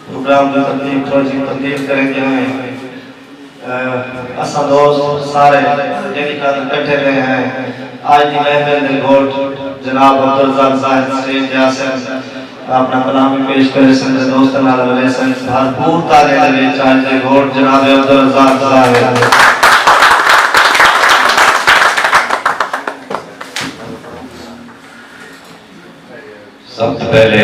Programme دی تقدیم توجیہ تقدیر کریندیاں ہیں اساں دوست سارے جیڑھی خاطر کٹھے تھے ہیں اج دی محفل دے گھٹ جناب عبدالرزاق زاہد سٹیج تے آسن اپنا کلام وی پیش کریسن تے دوستاں نال رلیسن بھرپور تالیاں دے وچ اج دے گھٹ جناب عبدالرزاق زاہد۔ سب توں پہلے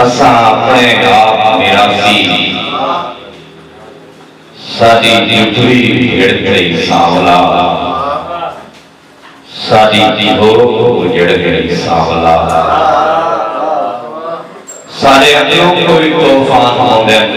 اساں اپݨے آپ میراثی ساݙی جتوئی جھڑ گئی سانولا ساݙی جھوک اجڑ گئی سانولا ساݙے پیو کوں وی طوفان ہوندن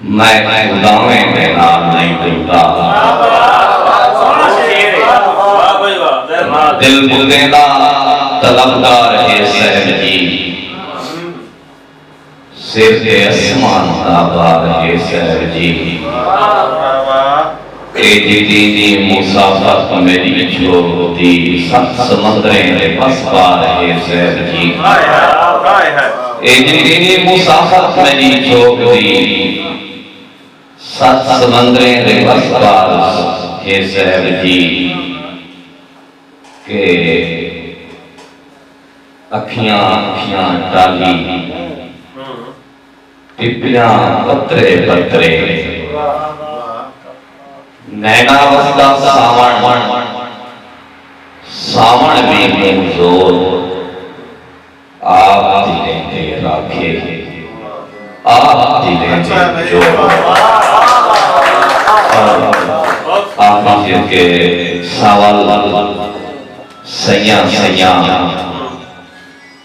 میں خداویں دے نال نئیں ڈردا۔ دل بندیں دا طلبگار ہے صاحب جی۔ سر تے اسمان دا بار ہے صاحب جی۔ کریدیتی دی مسافت میڈی چھوڑ دی ست سمندریں دے پس پار ہے زید جی کریدیتی مسافت میڈی چھوڑ دی ست سمندریں دے پس پار ہے زید جی کہ اکھیاں اکھیاں ٹالی پپیاں پترے پترے نینا وسدا ساوݨ ساوݨ وی موں زور آپ دی لیندے راکھے آپ دی لیندے جوڑ آپ دی کے ساول سیاں سیاں